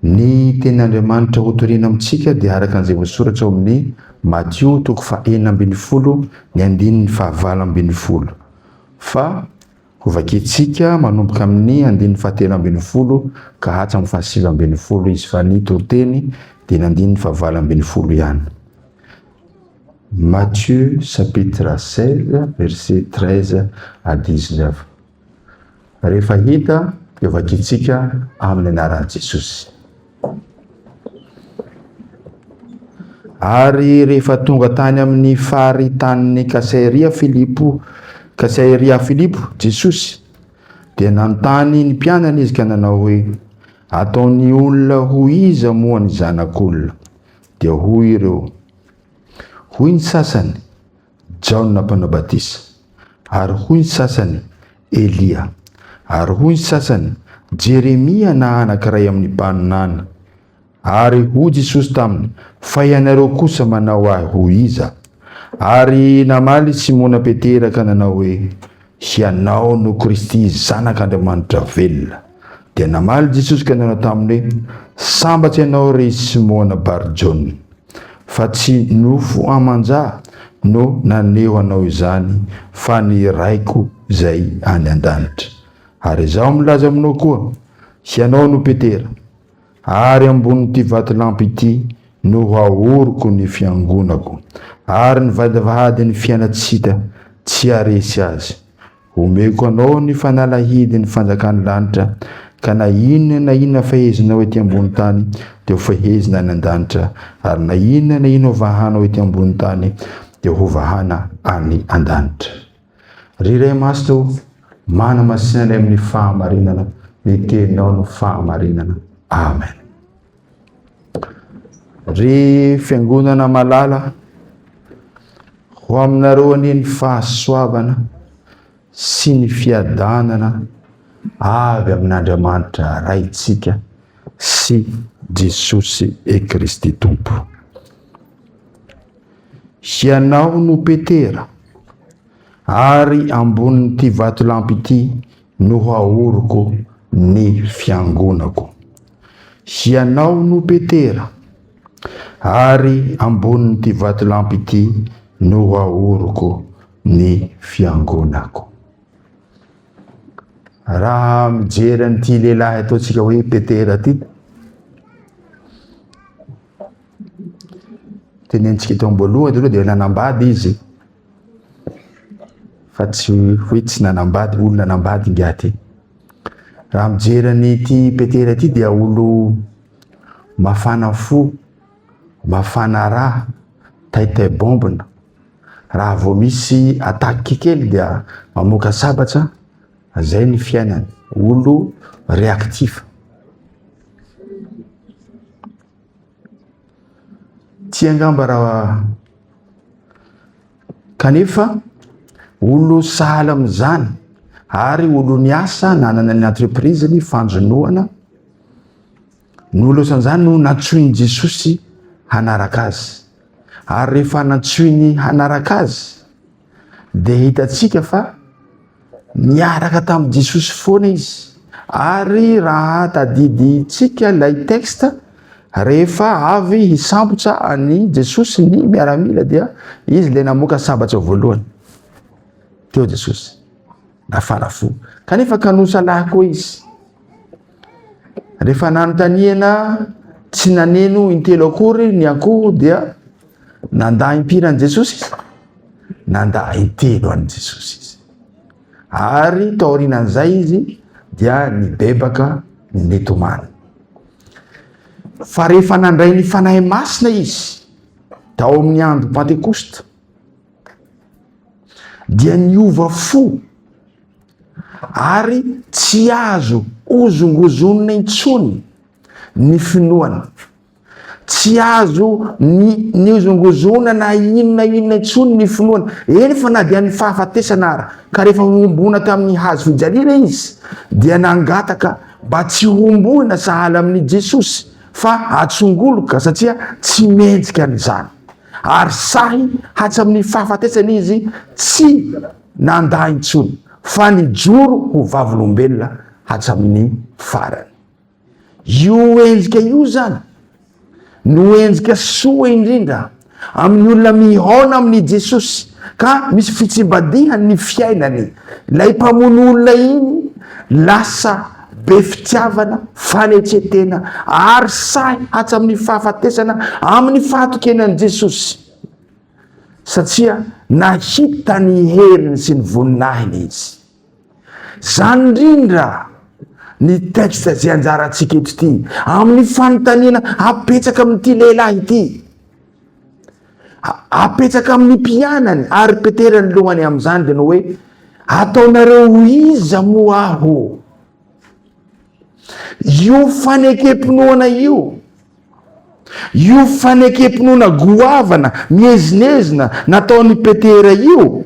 Ny tenin'Andriamanitra hotorina amintsika dia araka an'izay voasoratra ao amin'ny Matio toko fahenina ambin'ny folo ny andininy fahavalo ambin'ny folo. Fa hovakintsika manomboka amin'ny andininy fahatelo ambin'ny folo ka hatramin'ny fahasivy ambin'ny folo izy fa ny toriteny dia ny andininy fahavalo ambin'ny folo ihany. Matthieu chapitre 16 verset 13 à 19. Rehefa hita dia vakintsika amin'ny anaran'i Jesosy. Ary rehefa tonga tany amin'ny faritanin'i Kasaeria Filipo, Kasaeria Filipo, Jesosy, dia nanontany ny mpianany izy ka nanao hoe, Ataon'ny olona ho iza moa ny zanak'olona? Dia hoy ireo, hoy ny sasany, Jaona Mpanao Batisa, ary hoy ny sasany, Elia, ary hoy ny sasany, Jeremia na anankiray amin'ny mpaminany. Ary hoy Jesosy taminy, Fa ianareo kosa manao ahy ho iza? Ary namaly Simona Petera ka nanao hoe, Hianao no Kristy Zanak'Andriamanitra velona. Dia namaly Jesosy ka nanao taminy hoe, Sambatra ianao ry Simona Bar-Jona, fa tsy nofo aman-ja no naneho anao izany, fa ny Raiko izay any an-danitra. Ary Izaho milaza aminao koa, Hianao no Petera. Ary ambonin'ity vatolampy ity no haoriko ny fiangonako, ary ny vadivadin'ny fiainantsita tsy haharesy azy. Homeko anao ny fanalahidin'ny fanjakan'ny lanitra, ka na inona na inona fehezinao ety ambony tany dia hofehezina any an-danitra, ary na inona na inona hovahanao ety ambony tany dia hovahana any an-danitra. Ry Ray Masina o, manamasina anay amin'ny fahamarinana, ny teninao no fahamarinana. Amen. Ry fiangonana malala, ho aminareo anie ny fahasoavana sy ny fiadanana avy amin'Andriamanitra Raintsika sy Jesosy e Kristy Tompo. Hianao no Petera, ary ambonin'ity vatolampy ity no haoriko ny fiangonako. Hianao no Petera, ary ambonin'ity vatolampy ity no haoriko ny fiangonako. Raha mijery an'ity lehilahy ataontsika hoe Petera ity, Tenenitsika eto am-boalohany aloha dia nanambady izy fa tsy hoe tsy nanambady, olo nanambady ingahy ity. Raha mijery an'ity Petera ity dia olo mafana fo, mafana raha, taitay bombina. Raha vao misy attaque kely dia mamoaka sabatra, zay ny fiainany, olo réactif. Tsy angamba raha kanefa olo sahala amin'izany ary olo niasa nanana ny entreprise ny fanjonoana no losan'izany no nantsoin'i Jesosy hanaraka azy ary rehefa nantsoiny hanaraka azy dia hitantsika fa niaraka tamin'i Jesosy foana izy. Ary raha tadidintsika ilay texte, rehefa avy hisambotra an'i Jesosy ny miaramila dia izy ilay namoaka sambatra voalohany. Teo Jesosy, nafana fo. Kanefa kanosa lahy koa izy. Rehefa nanontaniana tsy naneno intelo akory ny akoho dia nandà impiry an'i Jesosy izy? Nandà intelo an'i Jesosy izy. Ary taorian'izay izy dia nibebaka nitomany. Fa rehefa nandray ny fanahy masina izy tao amin'ny andro Pantekosta dia niova fo ary tsy azo hozongozonina intsony ny finoany. Tsy azo ny nihozongozona na inona inona intsony ny finoany. Eny fa na dia ny fahafatesana ara, ka rehefa nohomboana tamin'ny hazo fijaliana izy, dia nangataka mba tsy homboina sahala amin'i Jesosy fa atsongoloka satria tsy mendrika an'izany. Ary sahy hatramin'ny fahafatesany izy tsy nandà intsony, fa nijoro ho vavolombelona hatramin'ny farany. Io endrika io izany no endrika soa indrindra amin'ny olona mihaona amin'i Jesosy, ka misy fitsimbadihany ny fiainany. Ilay mpamono olona iny lasa be fitiavana, fanetren-tena ary sahy hatramin'ny fahafatesana amin'ny fahatokiana an'i Jesosy, satria nahita ny heriny sy ny voninahiny izy. Izany indrindra ny texte izay anjarantsika eto ity, amin'ny fanontaniana apetraka amin'ity lehilahy ity. Apetsaka amin'ny mpianany ary Petera ny lohany amin'izany dia ny hoe ataonareo ho iza moa aho? Io fanekempinoana io io fanekempinoana goavana mihezinezina nataon'i Petera io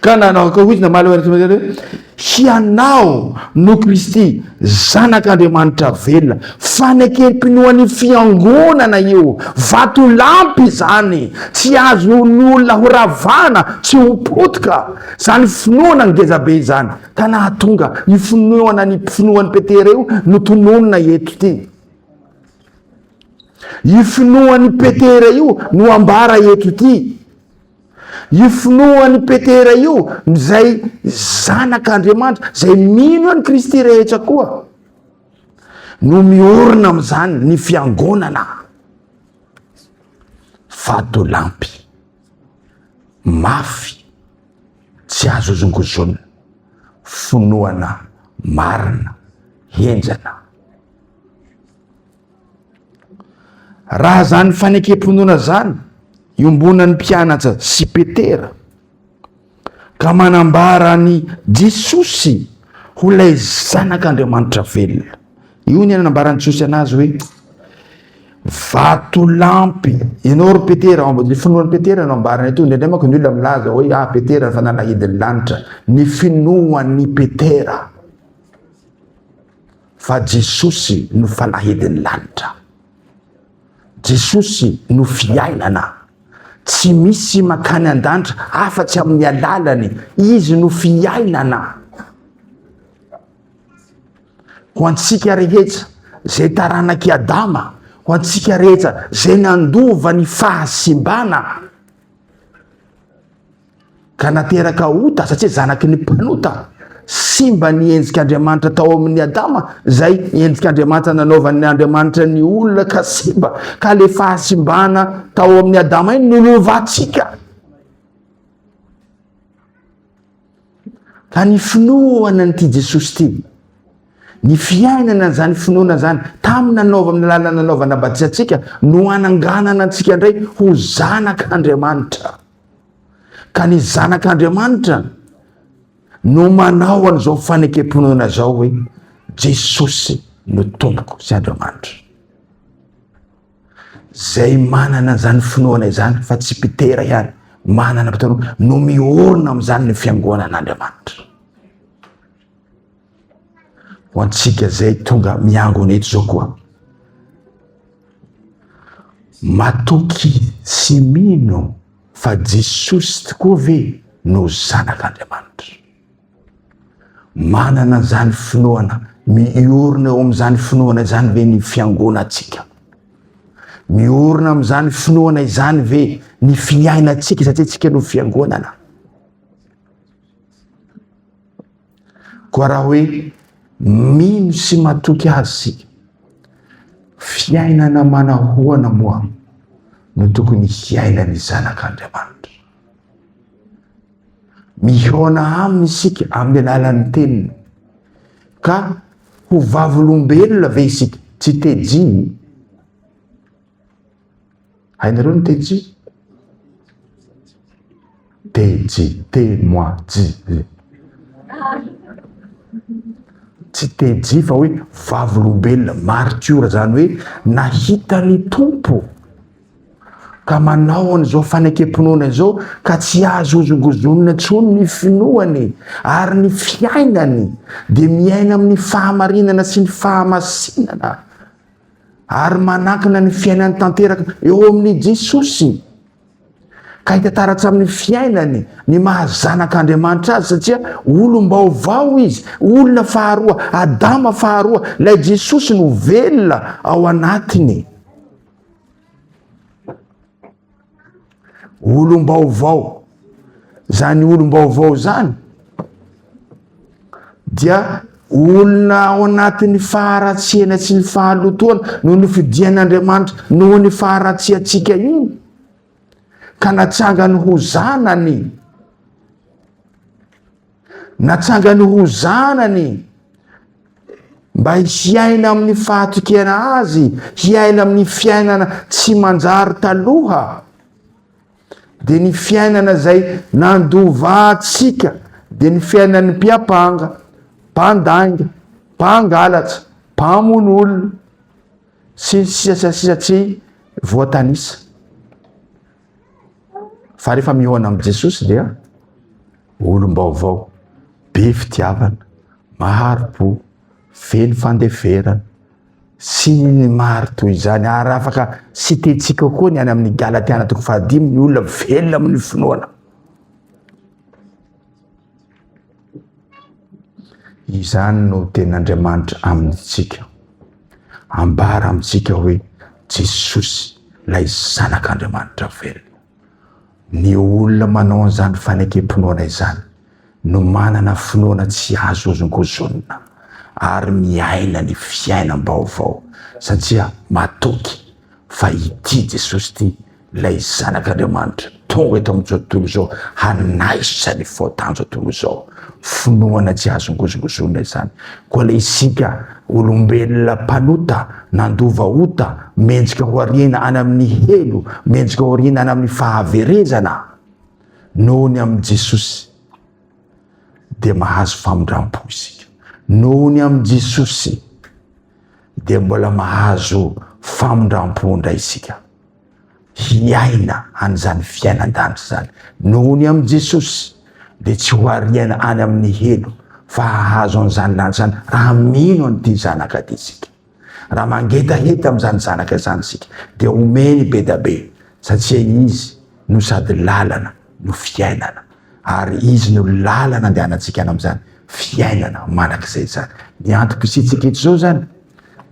Ka nanao akory izy namaly ho an'ireo hoe, Hianao no Kristy, Zanak'Andriamanitra velona. Fanekem-pinoan'ny fiangonana io, vatolampy izany, tsy azon'ny olona horavana, tsy ho potika. Izany finoana ngezabe izany, ka nahatonga io finoana ny finoan'i Petera io no tononina eto ity. Io finoan'i Petera io no ambara eto ity. Io finoan'i Petera io, izay zanak'Andriamanitra, izay mino an'i Kristy rehetra koa, no miorina amin'izany ny fiangonana. Vatolampy, mafy, tsy azo ozongozonina, finoana marina, henjana. Raha zany fanekem-pinoana zany iombonan'ny mpianatsa sy Petera ka manambara an'i Jesosy ho lay zanak'Andriamanitra velona. Io ny nanambaran'i Jesosy anazy hoe vatolampy. Ianao ry Petera, ao amin'ny finoan'i Petera no ambarana ito, indraindray manko ny olona milaza hoe ah Petera ny fanalahidin'ny lanitra, ny finoan'i Petera. Fa Jesosy no fanahidin'ny lanitra. Jesosy no fiainana. Tsy misy makany an-danitra afatsy amin'ny alalany. Izy no fiainana. Ho antsika rehetra, zay taranak'i Adama, ho antsika rehetra, zay nandova ny fahasimbana, ka nateraka ota satria zanaky ny mpanota. Simba ny endrik'Andriamanitra tao amin'ny Adama, izay endrik'Andriamanitra nanaovan'ny Andriamanitra ny olona ka simba, ka le fahasimbana tao amin'ny Adama iny nolovantsika. Ka ny finoana an'ity Jesosy ity, ny fiainana an'izany finoana izany, tamin'ny nanaova amin'ny alalan'ny nanaovana batisantsika, no hananganana antsika indray ho zanak'Andriamanitra. Ka ny zanak'Andriamanitra no manao an'izao fanekem-pinoana izao hoe Jesosy no tompoko sy Andriamanitra. Zay manana izany finoana izany fa tsy Petera ihany, manana mpitandrina no miorina amin'izany ny fiangonan'Andriamanitra. ho antsika izay tonga miangona eto izao koa. Matoky sy mino fa Jesosy tokoa ve no Zanak'Andriamanitra? Manana izany finoana, miorina eo amin'izany finoana izany ve ny fiangonantsika? Miorina amin'izany finoana izany ve ny fiainantsika satria tsika no fiangonana? Koa raha hoe mino sy matoky Azy isika, fiainana manahoana moa no tokony hiainan'ny zanak'Andriamanitra? Mihaona aminy isika amin'ny alalan'ny teniny, ka ho vavolombelona ve isika? Tsy tejiny. Hainareo ny teny ji? Te ji, te moi ji. Tsy te ji fa hoe vavolombelona maritiora zany hoe nahita ny Tompo ka manao an'izao fanekem-pinoana izao ka tsy azo hozongozonina intsony ny finoany ary ny fiainany dia miaina amin'ny fahamarinana sy ny fahamasinana ary manankina ny fiainany tanteraka eo amin'i Jesosy. Ka hita taratra amin'ny fiainany ny mahazanak'Andriamanitra azy satria olom-baovao izy, olona faharoa, Adama faharoa, ilay Jesosy no velona ao anatiny. olom-baovao zany olom-baovao zany dia olona ao anatin'ny faharatsiana tsy ny fahalotoana no nofidian'andriamanitra noho ny faharatsiantsika iny ka natsangany ho zanany Natsangany ho zanany mba hiaina amin'ny fahatokena azy, hiaina amin'ny fiainana tsy manjary taloha. Dia ny fiainana izay nandova antsika, dia ny fiainan'ny mpiapanga, mpandainga, mpangalatra, mpamono olona, sy ny sisa sy ny sisa tsy voatanisa. Fa rehefa mihaona amin'i Jesosy dia olom-baovao, be fitiavana, mahari-po, vely fandeferana, sy ny maro toy izany. Ary afaka sitentsika koa ny any amin'ny Galatiana toko fahadimy ny olona velona amin'ny finoana. Izany no tenin'Andriamanitra amintsika. Ambara amintsika hoe Jesosy ilay Zanak'Andriamanitra velona. Ny olona manao an'izany fanekem-pinoana izany no manana finoana tsy azo hozongozonina ary miaina ny fiainam-baovao satria matoky fa ity Jesosy ity Ilay Zanak'Andriamanitra tonga eto amin'izao tontolo izao hanaisotra ny faotan'izao tontolo izao. Finoana tsy azo ngozongozonina izany. Koa ilay isika olombelona mpanota, nandova ota, mendrika ho ariana any amin'ny helo, mendrika ho ariana any amin'ny fahaverezana noho ny amin'i Jesosy, dia mahazo famindram-po isika. Noho ny amin'i Jesosy, dia mbola mahazo famindram-po indray isika. hiaina an'izany fiainan-danitra izany. Noho ny amin'i Jesosy, dia tsy ho ariana any amin'ny helo fa hahazo an'izany lanitra izany raha mino an'ity Zanaka ity isika. Raha mangetaheta amin'izany Zanaka izany isika, dia omeny be dia be, satria Izy no sady lalana no fiainana, ary Izy no lalana andehanantsika any amin'izany fiainana mandrakizay izany. Ny antom-pisiantsika eto izao izany,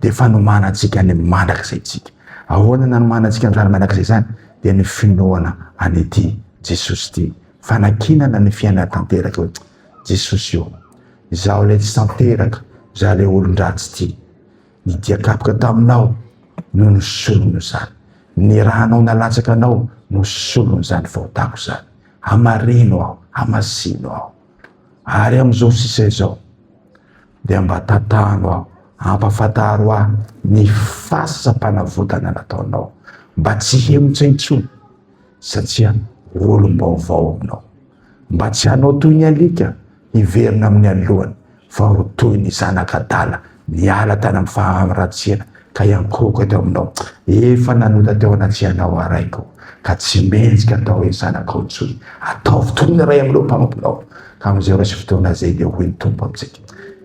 dia fanomanantsika ny mandrakizay tsika. Ahoana ny hanomanantsika ny zany mandrakizay zany? Dia ny finoana an'ity Jesosy ity. Fanakinana ny fiainana tanteraka hoe Jesosy io. Izaho ilay tsy tanteraka, izaho ilay olon-dratsy ity. Ny dia kapoka taminao no nisolony izany. Ny ranao nalatsaka anao no solony izany fahotako izany. Hamarino aho, hamasino aho. Ary amin'izao sisa izao, dia mba tantano aho, ampafantaro ahy ny fasam-panavotana nataonao, mba tsy hihemotra intsony, satria olom-baovao aminao. Mba tsy hanao toy ny alika hiverina amin'ny alohany, fa ho toy ny zanak'adala niala tany amin'ny faharatsiana, Ka hiankohoka teo aminao. Efa nanota teo anatrianao aho Raiko, ka tsy mendrika atao hoe zanakao intsony. Ataovy toy ny ray amin'ireo mpanomponao, ka amin'izay ora sy fotoana izay dia hoy ny Tompo amintsika,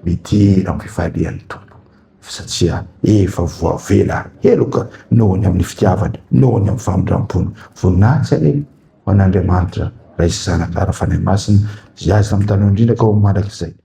Midera amin'ny fifalian'ny Tompo, satria efa voavela heloka noho ny amin'ny fitiavany, noho ny amin'ny famindram-pony. Voninahitsy anie ho an'Andriamanitra Ray sy Zanaka ary Fanahy Masina, izay azy tamin'ny taloha indrindra ka ho mandrakizay.